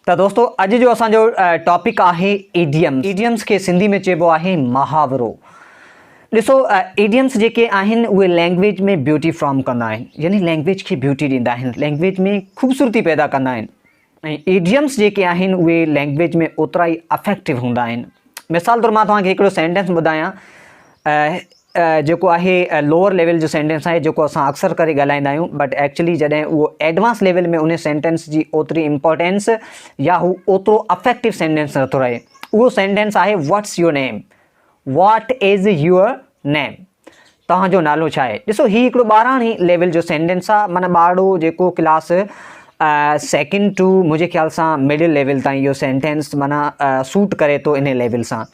ته دوستو اڄ جو اسان جو ٽاپڪ آهي ايڊيمس ايڊيمس کي سنڌي ۾ چئبو آهي محاورو ڏسو ايڊيمس جيڪي آهن اهي لينگويج ۾ بيوٽي فرام ڪندا آهن يعني لينگويج کي بيوٽي ڏيندا آهن لينگويج ۾ خوبصورتي پيدا ڪندا آهن ۽ ايڊيمس جيڪي آهن اهي لينگويج ۾ اوترا ئي افيڪٽو هوندا آهن مثال طور مان توهان کي هڪڙو سينٽينس ٻڌايان جيڪو آهي لوور ليول جو سينٽينس آهي جيڪو اسان اڪثر ڪري ڳالهائيندا آهيون بٽ ايڪچلي جڏهن اهو ايڊوانس ليول ۾ ان سينٽينس جي اوتري امپورٽينس يا هو اوترو افيڪٽو سينٽينس نٿو رهي اهو سينٽينس آهي what's your name what is your name توهان جو نالو ڇا آهي ڏسو هي هڪڙو ٻاراڻي ليول جو سينٽينس آهي معنی ٻارڙو جيڪو ڪلاس سيڪنڊ ٽو منهنجي خيال سان مڊل ليول تائين اهو سينٽينس معنی سوٽ ڪري ٿو ان ليول سان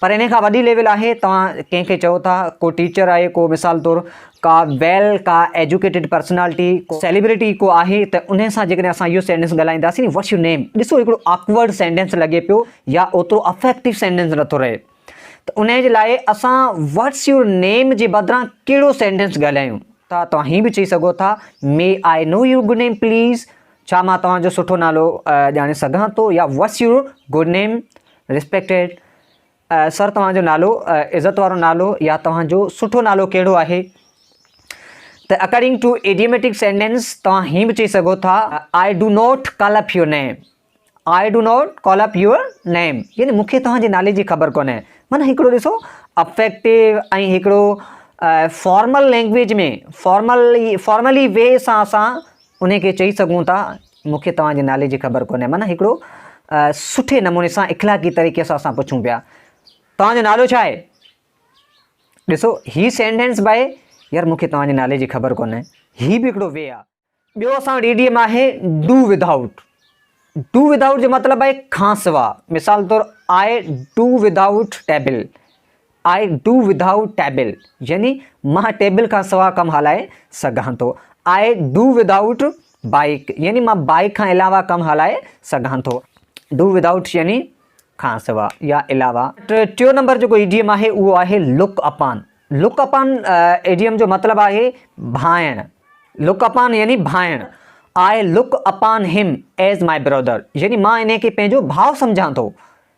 پر انهي کان وڏي ليول آهي توهان ڪنهن کي چئو ٿا ڪو ٽيچر آهي ڪو مثال طور ڪا ويل ڪا ايجوڪيٽيڊ پرسنالٽي ڪو سيليبريٽي ڪو آهي ته انهي سان جيڪڏهن اسان اهو سينٽينس ڳالهائينداسين ني وٽس يور نيم ڏسو هڪڙو آڪورڊ سينٽينس لڳي پيو يا اوترو افيڪٽو سينٽينس نٿو رهي ته انهي جي لاء اسان وٽس يور نيم جي بدران ڪهڙو سينٽينس ڳالهايون ٿا توهان هي به چئي سگهو ٿا may I know your good name please ڇا مان توهان جو سٺو نالو ڄاڻي سگهان ٿو يا what's your good name Respected Sir توهان جو نالو عزت وارو نالو يا توهان جو سٺو نالو ڪهڙو آهي ته اڪارڊنگ ٽو ايڊيميٽڪ سينٽينس توهان هين به چئي سگهو ٿا I do not call up your name I do not call up your name يعني مون کي توهان جي نالي جي خبر ڪونهي معنيٰ هڪڙو ڏسو افيڪٽو ۽ هڪڙو formal language ۾ formal formally way سان اسان ان کي چئي سگهون ٿا مون کي توهان جي نالي جي خبر ڪونهي. معنيٰ هڪڙو سٺي نموني سان اخلاقي طريقي سان اسان پڇون پيا توهان جو نالو ڇا آهي؟ ڏسو هي سينٽينس به آهي يار مون کي توهان جي نالي جي خبر ڪونهي هي به هڪڙو وي آهي. ٻيو اسان وٽ ايڊيم آهي ڊو وڌ آئوٽ ڊو وڌ آئوٽ جو مطلب آهي کانسواء مثال طور I do without table I do without table يعني مان ٽيبل کان سواء ڪم هلائي سگهان ٿو. آء ڊو وڌائوٽ بائيڪ يعني مان بائيڪ کان علاوه ڪم هلائي سگهان ٿو. ڊو وڌائوٽ يعني کان سواء يا علاوه. ٽيون نمبر جيڪو ايڊيم آهي اهو آهي لڪ اپان. لڪ اپان ايڊيم جو مطلب آهي ڀانئڻ. لڪ اپان يعني ڀانئڻ. آء لڪ اپان هم ايز مائي برادر يعني مان انهي کي پنهنجو ڀاء سمجهان ٿو.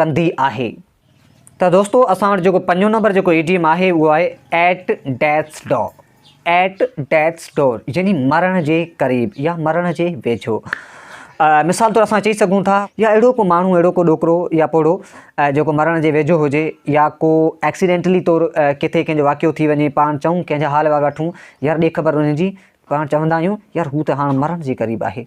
ڪندي آهي ته دوستو اسان وٽ جيڪو پنجون نمبر جيڪو ايڊيم آهي اهو آهي at death's door at death's door يعني مرڻ جي قريب يا مرڻ جي ويجهو مثال طور اسان چئي سگهون ٿا يا اهڙو ڪو ماڻهو اهڙو ڪو ڏوڪرو يا پوڙهو جيڪو مرڻ جي ويجهو هجي يا ڪو ايڪسيڊينٽلي طور ڪٿي ڪنهن جو واقعو ٿي وڃي پاڻ چئون ڪنهن جا حال وال وٺون يار ڏي خبر انهن جي پاڻ چوندا آهيون يار هو ته هاڻ مرڻ جي قريب آهي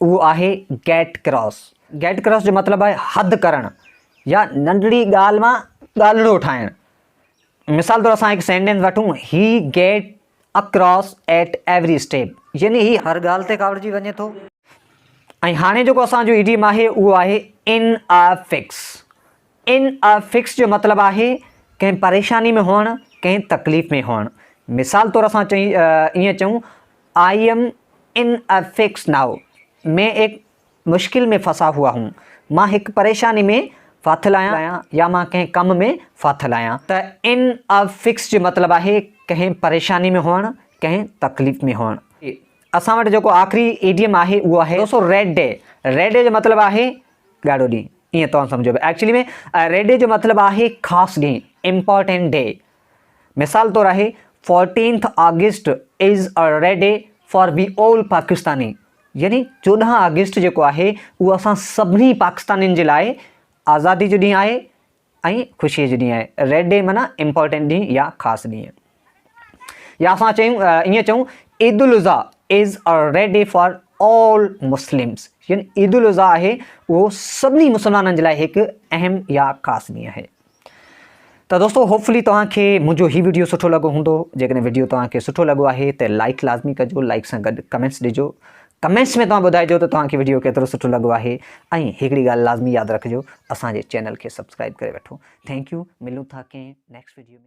اهو آهي گيٽ ڪراس. گيٽ ڪراس جو مطلب آهي حد ڪرڻ يا ننڍڙي ڳالهه مان ڳالهڙو ٺاهڻ. مثال طور اسان هڪ سينٽينس وٺون، هي get a cross at every step يعني هي هر ڳالهه تي ڪاوڙجي وڃي ٿو. ۽ هاڻي جيڪو اسان جو ايڊيم آهي اهو آهي in a fix. In a fix جو مطلب آهي ڪنهن پريشاني ۾ هئڻ، ڪنهن تڪليف ۾ هئڻ. مثال طور اسان ائين چئون، I am in a fix now, مين ايڪ مشڪل مين ڦسا هوا هون، مان هڪ پريشاني ۾ ڦاٿل آهيان يا مان ڪنهن ڪم ۾ ڦاٿل آهيان. ته ان آء فڪس جو مطلب آهي ڪنهن پريشاني ۾ هئڻ، ڪنهن تڪليف ۾ هئڻ. اسان وٽ جيڪو آخري ايڊيم آهي اهو آهي، ڏسو ريڊ ڊي. ريڊ ڊي جو مطلب آهي ڳاڙهو ڏينهن ائين توهان سمجهو به ايڪچلي ۾ ريڊ ڊي جو مطلب آهي خاص ڏينهن امپورٽنٽ ڊي مثال طور آهي fourteenth August is a red day for we all Pakistani يعني چوڏهن آگسٽ جيڪو آهي اهو اسان سڀني پاڪستانين جي لاء آزادي جو ڏينهن آهي ۽ خوشيء جو ڏينهن آهي. ريڊ ڊي معنيٰ امپارٽنٽ ڏينهن يا خاص ڏينهن. يا اسان چيون ائين چئون Eid al-Adha is a red day for all Muslims يعني عيد الاضحيٰ آهي اهو سڀني مسلمانن جي لاء هڪ اهم يا خاص ڏينهن آهي. ته دوستو هوپ فلي توهان کي منهنجو هي وڊيو سٺو لڳو هوندو. جيڪڏهن وڊيو توهان کي سٺو لڳو آهي ته لائڪ لازمي ڪجو، لائڪ سان گڏ ڪمينٽس ڏجو. ڪمينٽس ۾ توهان ٻڌائجو ته توهان کي وڊيو ڪيترو سٺو لڳو آهي ۽ هڪڙي ڳالهه لازمي ياد رکجو اسان جي چينل کي سبسڪرائب ڪري وٺو ٿينڪ يو ملون ٿا ڪنهن نيڪسٽ وڊيو ۾.